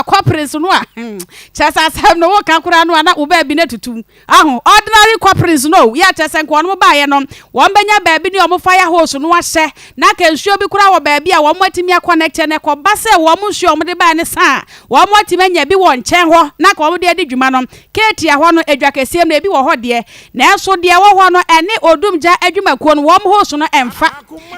kɔpere so no a, hmm, kyerɛ sɛ asɛm no woka koraa no a na wo baabi no atutu mu. Aho, ordinary kɔpere so no o, yɛ kyerɛ sɛ nka wɔn baeɛ no, wɔn bɛnya baabi ne wɔn fire hose no ahyɛ, na nka nsuo bi koraa wɔ baabi a wɔn atumi akɔnɛkteɛ, na ɛkɔba sɛ wɔn nsuo a wɔde baeɛ no sa a, wɔn atumi anya bi wɔ nkyɛn hɔ na nka wɔde adi dwuma no, Katia hɔ no edwa kɛseɛ mu no ebi wɔ hɔ deɛ nanso deɛ ɛwɔ hɔ no ɛne odum gya adwumakuo no wɔn host no ɛnfa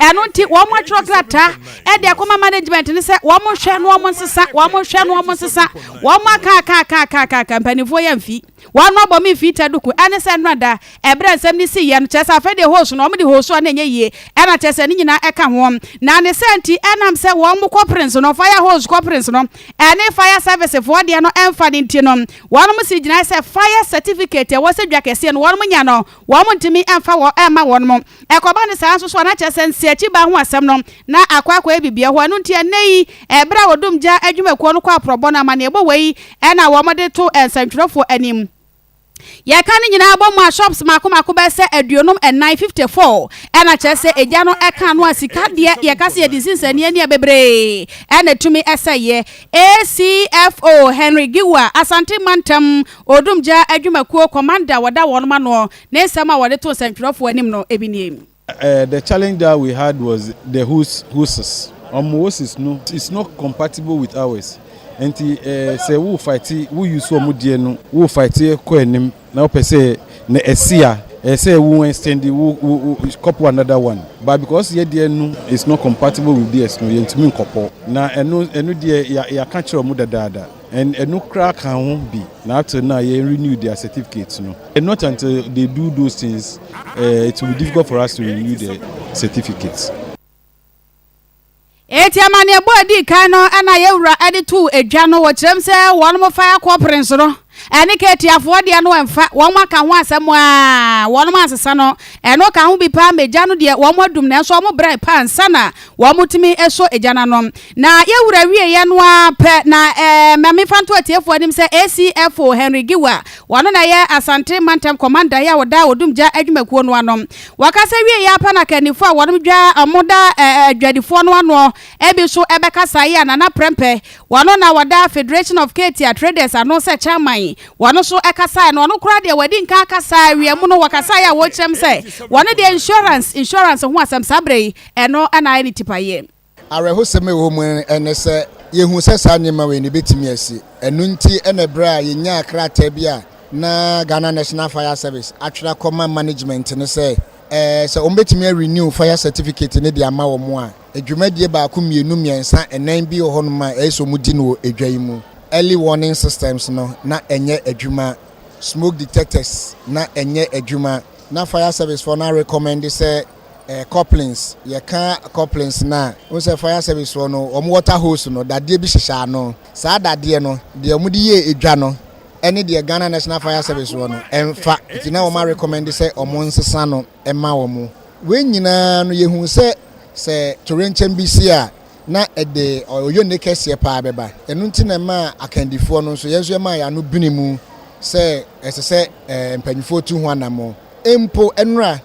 ɛno nti wɔn atwerɛ krataa ɛde akɔma management no sɛ wɔn nhwɛ na wɔn nsesa wɔn nhwɛ na wɔn nsesa wɔn aka aka aka aka aka aka mpaninfoɔ yɛ mfi wɔn abɔ me mfi taduku ɛne sɛ nnora da Ɛberɛ a nsɛm no sii yɛ no, kyerɛ sɛ afei deɛ hose no, wɔde hose a na ɛnyɛ yie, ɛna kyerɛ sɛ ne nyinaa ɛka ho, na ne saa nti, ɛnam sɛ wɔn kɔprens no, fire hose kɔprens no, ɛne fire service foɔ deɛ no ɛmfa no nti no, wɔn sii gyinaeɛ sɛ fire certificate a ɛwɔ sɛ dwa kɛseɛ no wɔn nya no, wɔn ntumi mfa wɔ ɛmma wɔn. Ɛkɔba no saa nso so a, na kyerɛ sɛ nsiakyibaa ho asɛm no, na akɔ akɔyɛ biribiara hɔ, ɛno nti ɛnnɛ yi, ɛberɛ a Odum gya adwumakuo no kɔ aporɔbɔ no, amanneɛbɔ wei na wɔde to nsɛntwerɛfoɔ anim. Yɛka ne nyinaa bɔ mu a, shops mmaako mmaako bɛyɛ sɛ aduonum nnan, fifty four, ɛna kyerɛ sɛ egya no ka ano a sika deɛ yɛka sɛ yɛde nsi nsɛnneɛ ni a bebree na ɛtumi sɛeɛ. ACFO Henry Giwa, Asante Mantam Odumgya Adwumakuo Commander a wɔda wɔnom ano, ne nsɛm a wɔde too nsɛntwerɛfoɔ anim no bi nie. The challenge that we had was the whose whoses ɔmo whoses no is not compatible with ours nti sɛ wo fight wo use ɔmo deɛ no wo fight kɔ anim na wopɛ sɛ na ɛsi a ɛyɛ sɛ wo extend wo wo kɔpo another one but because yɛ deɛ no is not compatible with theirs no yɛntumi nkɔpɔ na ɛno ɛno deɛ yɛaka kyerɛ ɔmo dadaada. And ɛno koraa ka ho bi na ato na yɛn renew their certificate no. And not until they do those things uh, it will be difficult for us to renew the certificate. Eti amaneɛbɔ a ɛdi kan no na yɛn wura de too adwa no wɔ kyerɛm sɛ wɔn fire corporings no ɛne katiafoɔ deɛ no ɛmfa wɔn aka ho asɛm a wɔn ansesa no ɛno ka ho bi paa mɛgya no deɛ wɔn adum nanso wɔn brɛ paa nsa na Wɔtumi sɔ egya no ano. Na yɛn Wura wieeɛ no ara pɛ na ɛɛ ma memfa nto atiefoɔ anim sɛ ACFO Henry Giwa, ɔno na ɛyɛ Asante Mantam Kɔmandaeɛ a ɔda Odum Gya Adwumakuo no ano. Wɔka sɛ wieeɛ ara pɛ na akannifoɔ a wɔnom dwa a wɔda adwadifoɔ no ano bi so bɛkasaeɛ a Nana Prɛmpɛ, ɔno na ɔda Federation of Katia Traders ano sɛ Chairman, ɔno nso kasaeɛ na ɔno koraa deɛ wadi nkan akasa awiamu no wɔkasaeɛ a wɔkyerɛm sɛ wɔn deɛ insurance, insurance ho asɛm saa berɛ yi Ɛno na ayɛ ne tipayɛ. Awerɛhosɛm a ɛwɔ mu ne sɛ yehu sɛ saa nneɛma wei no ebetumi asi. Ɛno nti na bere a yenyaa krataa bi a na Ghana National Fire Service atwerɛ akɔma management no sɛ sɛ wɔbetumi arenew fire certificate no de ama wɔn a, dwumadie baako mmienu mmiɛnsa nnan bi wɔ hɔnom a ɛyɛ sɛ wɔdi no wɔ edwa yi mu. Early warning systems no na ɛnyɛ adwuma, smoke detectors na ɛnyɛ adwuma, na fire service foɔ no arecommend sɛ, ɛɛ couplings yɛka couplings no a wohu sɛ fire service foɔ no wɔn water hose no dadeɛ bi hyehyɛ ano saa dadeɛ no deɛ wɔn de yɛ edwa no ɛne deɛ Ghana National Fire Service wɔ no ɛnfa nti na wɔn arecommend sɛ wɔn nsesa no ɛma wɔn wei nyinaa no yɛhu sɛ sɛ torenkyɛm bi si a na ɛde ɔyɔ ne kɛseɛ paa bɛba ɛno nti na ɛma akandifoɔ no nso yɛn nso ɛma yɛn ano bene mu sɛ ɛsɛ sɛ eh, mpanimfoɔ tu ho anammɔn Mpo nnora,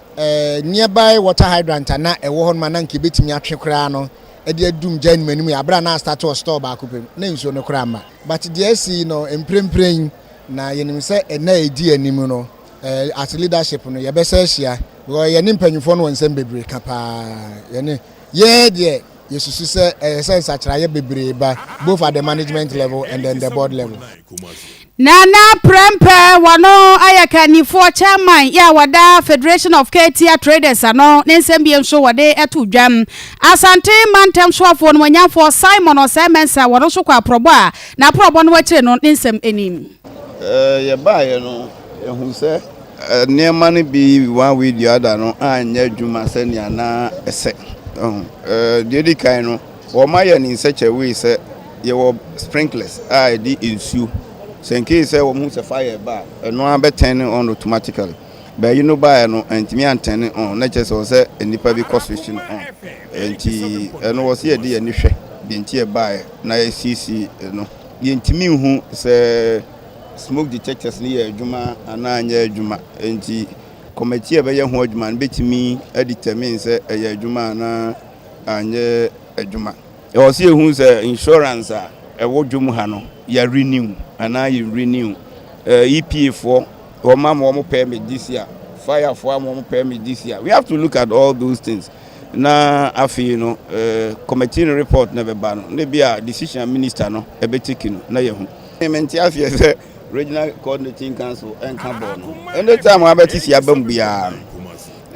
nearby water hydrant a na ɛwɔ hɔ nom a na anka ebetumi atwe koraa no de adum gyae no m'anim yɛ bere a na astate wɔ store baako pɛ mu. Na nsuo no koraa mma. But deɛ asi yi no, mprempren, na yɛnim sɛ nna a edi anim no, as leadership no, yɛbɛsa ahyia because yɛne mpanyimfoɔ no wɔ nsɛm bebree ka paa. Yɛne, yɛn deɛ, yɛsusu sɛ ɛsɛ sɛ nsakyeraeɛ bebree ba both at the management level and then the board level. Nana Prempeh, wɔno ayɛ kannifoɔ, chairman, yɛ a wɔda Federation of Katia Traders ano, ne nsɛm biem nso wɔde to dwam. Asante mantam soafoɔ nomuanyanfoɔ Simon Osei Mensah, wɔno nso kɔ aprɔbɔ a n'aprɔbɔ no akyire no ne nsɛm nim. Yɛbaeɛ no, yɛhuu sɛ nneɛma no bi one way the other no anyɛ adwuma sɛnea na ɛsɛ. Deɛ ɛdi kan no, Wɔma yɛn nsɛkyerɛwee sɛ yɛwɔ sprinklers a ɛde nsuo. Sɛ nkei sɛ wɔhu sɛ fire reba a, ɛno ara bɛ turn no on automatically. But yi no baeɛ no, antumi an turn no on, na kyerɛ sɛ ɛwɔ sɛ nnipa bi kɔ switch no on. Ɛnti ɛno wɔ sɛ yɛde yɛn ani hwɛ deɛ nti ɛbaeɛ na yɛsiesie ɛno. Yɛntumi nhu sɛ smoke detectors no yɛɛ adwuma anaa anyɛ adwuma, ɛnti committee a ɛbɛyɛ ho adwuma no bɛtumi a determine sɛ ɛyɛɛ adwuma anaa. anyɛ adwuma. Ɛwɔ sɛ yɛhu sɛ insurance a ɛwɔ dwom ha no yɛ renew anaa yɛ renew. EPA foɔ wɔn ama wɔn permit this year, fire foɔ ama wɔn permit this year. We have to look at all those things. Na afei no committee no report na bɛba no na bi a decision minister no ɛbɛteki no na yɛhu. Mente aseɛ sɛ regional coordinating council ɛnka bɔɔ no. Anytime wɔabɛte si aba mu biara no.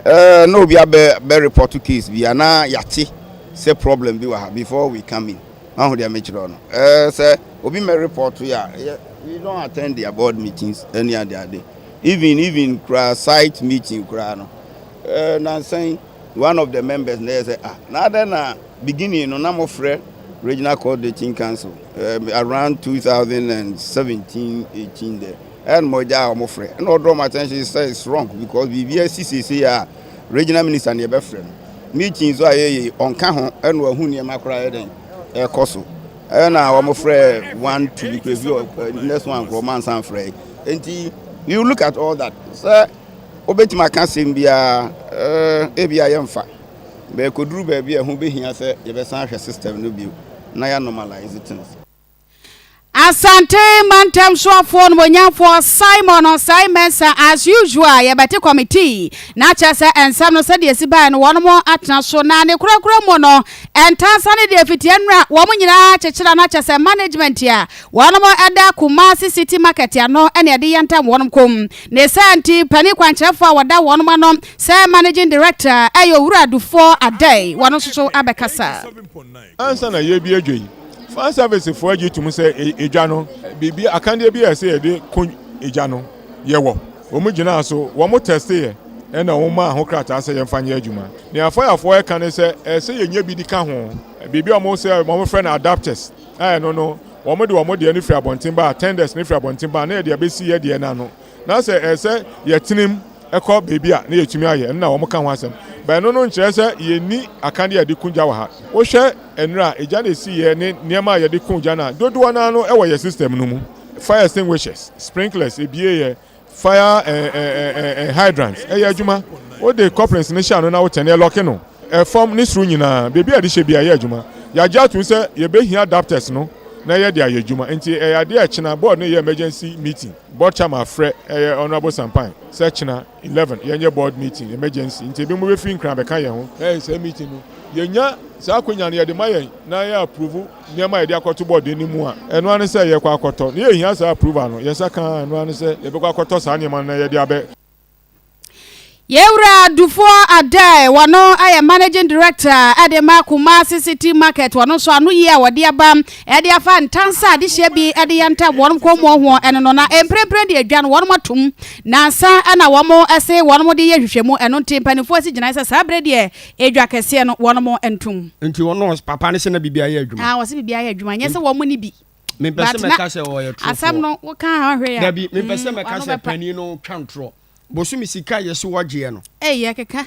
Ɛɛ na obi abɛ bɛ report case bi a na yɛate sɛ problem bi wɔ ha before we come in wahu deɛ mekyerɛ wo no ɛɛ sɛ obi mmɛ report yɛ a yɛ we don't attend their board meetings ɛne ade ade even even koraa site meeting koraa no ɛɛ nansa yi one of the members na yɛ sɛ ah na adɛn na beginning no na mofrɛ regional coordinating council ɛɛ around 2017 18 dɛ Ɛna mogya a wɔn frɛ ɛna ɔdrɔ wɔn attention sɛ it's wrong because biribi asi seesei a regional minister na yɛbɛfrɛ no meeting nso a yɛyɛ ɔnka ho ɛna wahu nneɛma koraa yɛ dɛn ɛkɔ so ɛna wɔn frɛ one two because ebi next one koraa wɔn ansan frɛ nti you look at all that sɛ wobɛtumi aka asɛm biara ɛɛ eh, ebi a yɛmfa bɛɛkɔduru baabi a ɛho bɛhia sɛ yɛbɛsan ahwɛ system no bio na yɛ normalize things. Asante mantam soafoɔ nomonyamfoɔ Simon Ɔsai Mensah as usual yɛbɛte committee na kyerɛ sɛ nsɛm no sɛdeɛ ɛsi baeɛ no wɔnom atena so na ne korakora mu no ntansa ne deɛ fitiɛ nnura wɔn nyinaa kyekyera na kyerɛ sɛ management a wɔnom ɛda Kumasi City Market ano ɛne ɛde yɛ ntam wɔnom kɔm ne saa nti panin kwankyerɛfoɔ a wɔda wɔnom ano sɛ managing director ɛyɛ owura adufoɔ adɛn wɔn nso so abɛkasa. Ansa na yɛrebue adwa yi, fire service foɔ agye tum sɛ adwa no, biribi akandeɛ bi a ɛsɛ yɛde ko gya no yɛwɔ. Wɔn gyinaa so, wɔn tɛste yɛ, ɛna wɔn maa ho krataa sɛ yɛmfa nyɛ adwuma. Nea fire foɔ ɛka ne sɛ ɛsɛ yɛnya bi de ka ho, biribi a wɔn sɛ wɔn frɛ no adapters, a ɛno no wɔn de wɔn deɛ no firi abɔnten ba, tenders no firi abɔnten ba, na yɛde abɛsi yɛ deɛ no ano. Na sɛ ɛyɛ sɛ yɛtenam kɔ baabi a na yɛtumi ayɛ ɛno na wɔka ho asɛm. But ɛno no nkyerɛ sɛ yɛnni akane a yɛde ku gya wɔ ha. Wohwɛ nnuro a egya na ɛsiiɛ ne nneɛma a yɛde ku gya no a, dodoɔ no ara no wɔ yɛn system no mu. Fire extinguishers, sprinklers, ɛbieɛ, fire eh, eh, eh, eh, eh hydrants, ɛyɛ adwuma. Wode couplings no hyɛ ano na wotɛne ɛlɔke no. Ɛfam ne soro nyinaa, baabi a yɛde hyɛ bi a ɛyɛ adwuma. Yɛagye atom sɛ yɛbɛhia adapters no na yɛde ayɛ adwuma. Nti ɛyɛ adeɛ a ɛkyena board no yɛ emergency meeting. Board chairman afrɛ ɛyɛ Honourable Sampan sɛ kyena eleven yɛnyɛ board meeting emergency nti ebinom bɛfiri Nkran abɛka yɛn ho. Ɛyɛ saa meeting no yɛnya saa akwanya no yɛde ma yɛn na yɛ approve nneɛma a yɛde akɔto board no anim a ɛno ara ne sɛ yɛkɔ akɔtɔ na yɛhia saa approval no yɛn nsa ka ara ɛno ara ne sɛ yɛbɛkɔ akɔtɔ saa nneɛma no na yɛde abɛ Yɛn wura Dufoɔ Adai, wɔno yɛ managing director de ma Kumasi City Market, wɔno nso ano yie a wɔde aba de afa ntansa adehyeɛ bi de yɛ ntam wɔn kɔnmuo ho ɛno no, na mprempren deɛ dwa no wɔn atom nansa na wɔn se wɔn de yɛ nhwehwɛmu, ɛno nti mpanimfoɔ asi gyinae sɛ saa berɛ deɛ edwa kɛseɛ no wɔn ntom. Nti wɔn papa no se na biribiara yɛ adwuma? Ah, wɔse biribiara yɛ adwuma, nyɛ sɛ wɔn ne bi. mepɛ sɛ mɛka sɛ ɔyɛ torofoɔ asɛm no woka ha hwɛ ya dabi mepɛ sɛ mm, mɛka sɛ panin no twa ntorɔ bosomi sika yɛ so wɔgyeɛ no ɛyɛ keka